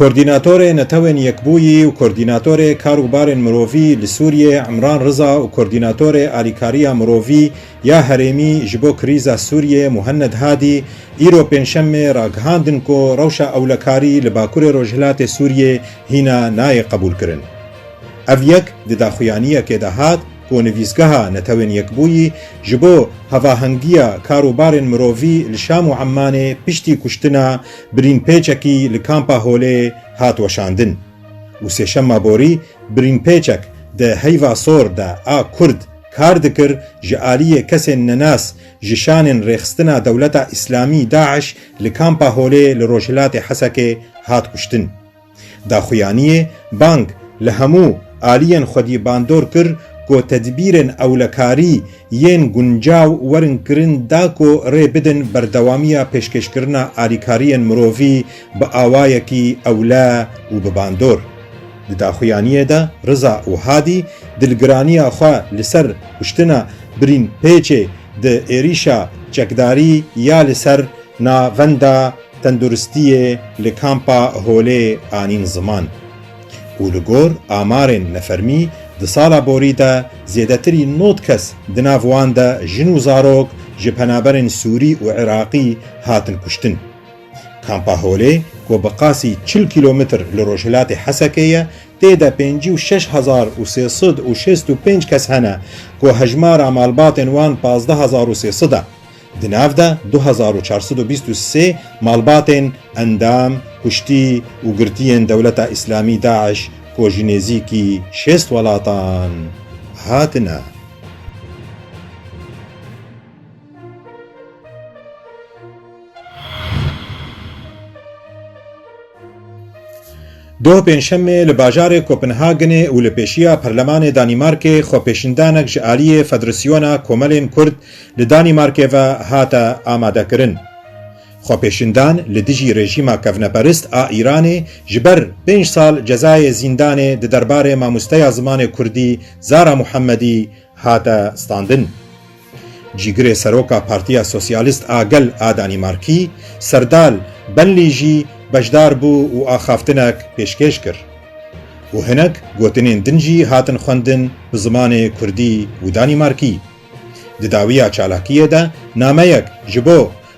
Kordînatorê Netewên Yekbûyî û Kordînatorê Kar û Barên Mirovî li Sûriyê Îmran Riza û Kordînatorê Alîkariya Mirovî ya Herêmî ji bo Krîza Sûriyê Muhenned Hadî îro Pêncşemê ragihandin ku rewşa ewlekarî li Bakurê Rojhilatê Sûriyê hîna nayê qebûlkirin. Ev yek di daxuyaniyekê de hat, ku Nivîsgeha Netewên Yekbûyî ji bo hevahengiya kar û barên mirovî li Şam û Emmanê piştî kuştina birînpêçekî li Kampa Holê hat weşandin û sêşema borî birînpêçek di heyva sor de a Kurd kar dikir ji aliyê kesên nenas ji şanên rêxistina Dewleta Îslamî, DAIŞ, li Kampa Holê li Rojhilatê Hesekê hat kuştin. Daxuyaniyê bang li hemû aliyên xwedî bandor kir ku tedbîrên ewlekarî yên guncaw werin kirin da ku rê bidin berdewamiya pêşkêşkirina alîkariyên mirovî bi awayekî ewle û bi bandor. Di daxuyaniyê de Riza û Hadî dilgiraniya xwe li ser kuştina birînpêçê di êrîşa çekdarî ya li ser navenda Tenduristiyê li Kampa Holê anîn ziman û li gor amarên nefermî di sala borî de zêdetirî nod kes di nav wan de jin û zarok ji penaberên Sûrî û Iraqî hatin kuştin. Kampa Holê ku bi qasî çil kîlometr li rojhilatê Hesekê ye tê de pêncî û şeş hezar û sê sed û şêst û pênc kes hene ku hejmara malbatên wan pazdeh hezar û sê sed e. Di nav de du hezar û çar sed û bîst û sê malbatên endam, kuştî û girtiyên Dewleta Îslamî, DAIŞ, ku ji nêzîkî şêst welatan hatine. Doh pêncşemê li bajarê Kopenhagenê û li pêşiya Perlemanê Danîmarkê xwepêşindanek ji aliyê Federasyona Komelên Kurd li Danîmarkê ve hate amadekirin. Xwepêşindan li dijî rejîma kevneperist a Îranê ji ber pênc sal cezayê zîndanê di derbarê mamosteya zimanê Kurdî Zara Muhemedî hate standin. Cîgirê seroka Partiya Sosyalîst a Gel a Danîmarkî, Serdal Benlî jî beşdar bû û axaftinek pêşkêş kir û hinek gotinên din jî hatin xwendin bi zimanê Kurdî û Danîmarkî. Di dawiya çalakiyê de nameyek ji bo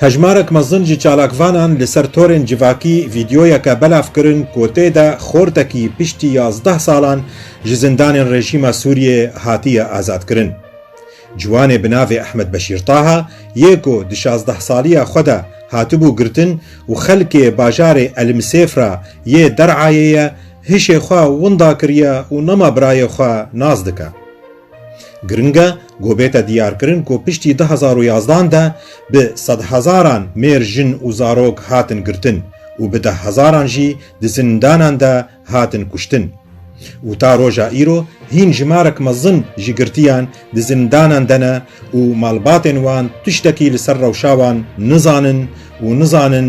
Hejmarek mezin ji çalakvanan li ser torên civakî vîdeoyeke belav kirin ku tê de xortekî piştî yazdeh salan ji zindanên rejîma Sûriyê hatiye azadkirin. Ciwanê bi navê Ehmed Beşîr Taha yê ku di şazdeh saliya xwe de hatibû girtin û xelkê bajarê Elmsêfra yê Der'ayê ye hişê xwe winda kiriye û nama birayê xwe nas dike. Giring e ku bête diyarkirin ku piştî du hezar û yazdan de bi sedhezaran mêr, jin û zarok hatin girtin û bi dehhezaran jî di zindanan de hatin kuştin û ta roja îro hîn jimarek mezin ji girtiyan di zindanan de ne û malbatên wan tiştekî li ser rewşa wan nizanin û nizanin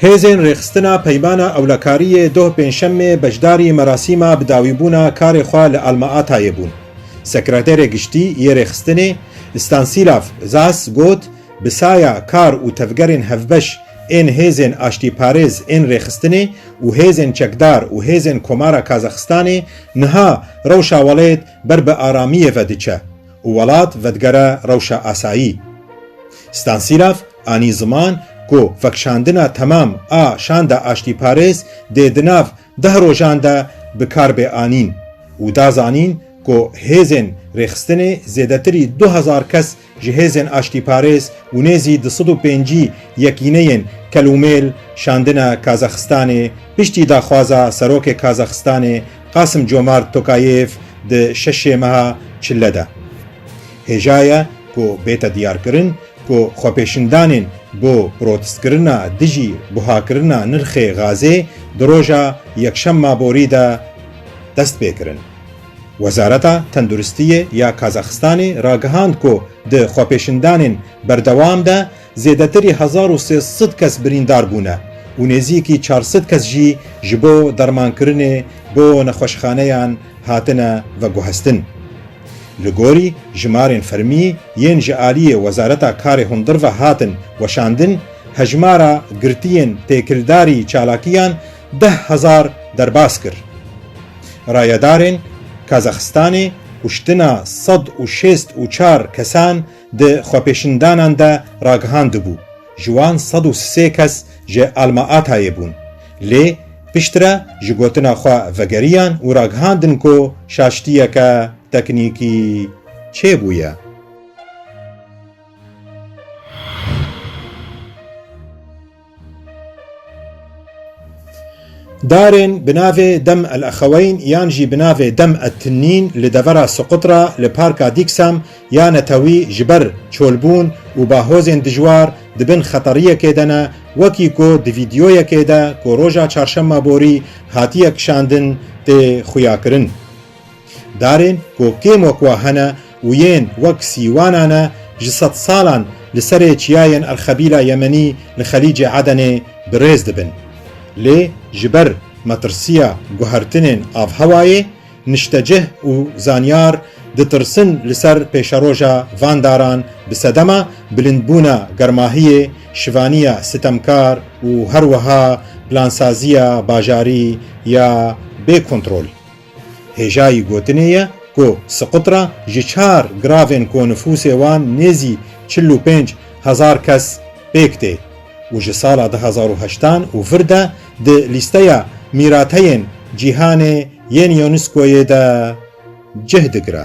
Hêzên Rêxistina Peymana Ewlekariyê doh Pêncşemê beşdarî merasîma bidawîbûna karê xwe li Alma Atayê bûn. Sekreterê Giştî yê Rêxistinê Stansilav Zas got, Bi saya kar û tevgerên hevbeş ên hêzên aştîparêz ên rêxistinê û hêzên çekdar û hêzên Komara Kazaxistanê niha rewşa welêt ber bi aramiyê ve diçe û welat vedigere rewşa asayî. Stansilaf anî ziman ku vekişandina temam a şanda aştîparêz dê di nav deh rojan de bi kar bê anîn û da zanîn ku hêzên rêxistinê zêdetirî du hezar kes Ji hêzên aştîparêz û nêzî du sed û pêncî yekîneyên kelûmêl şandina Kazaxistanê piştî daxwaza Serokê Kazaxistanê Kasim-Comart Tokayêv di şeşê meha Çille de hêjaye ku bête diyarkirin ku xwepêşindanên bo protestkirina dijî buhakirina nirxê gazê di roja Yekşemma borî de dest pê kirin. Wezareta Tenduristiyê ya Kazaxistanê ragihand ku di xwepêşindanên berdewam de zêdetirî hezar û sê sed kes birîndar bûne û nêzîkî çar sed kes jî ji bo dermankirinê bo nexweşxaneyan hatine veguhestin. Li gorî jimarên fermî yên ji aliyê Wezareta Karê Hundir ve hatin weşandin, hejmara girtiyên têkildarî çalakiyan Deh hezar derbas kir. Rayedarên Kazaxistanê kuştina sed û şêst û çar kesan di xwepêşindanan de ragihandibû, ji wan sed û sê kes ji Alma-Atayê bûn, lê piştre ji gotina xwe vegeriyan û ragihandin ku şaştiyeke teknîkî çêbûye. Darên bi navê Dem El Exeweyn yan jî bi navê Dem El Tinnîn li devera Siqut re li Parka Dîksam ya netewî ji ber çolbûn û bahozên dijwar di bin xeteriyekê de ne wekî ku di vîdeoyekê de ku roja çarşema borî hatiye kişandin tê xuyakirin. Darên ku kêm wek wa hene û yên wek sîwana ne ji sed salan li serê çiyayên Erxebîla Yemenî li Xelîcê Edenê bi rêz dibin. Lê ji ber metirsiya guhertinên avhewayê, niştecih û zanyar ditirsin li ser pêşeroja van daran bi sedema bilindbûna germahiyê, şivaniya sitemkar û her wiha plansaziya bajarî ya bê kontrol. Hêjayî gotinê ye ku Siqutra ji çar giravên ku nifûsê wan nêzî çil û pênc hezar kes pêk tê û ji sala du hezar û heştan û vir de di lîsteya mîrateyên cîhanê yên UNESCO'yê de cih digire.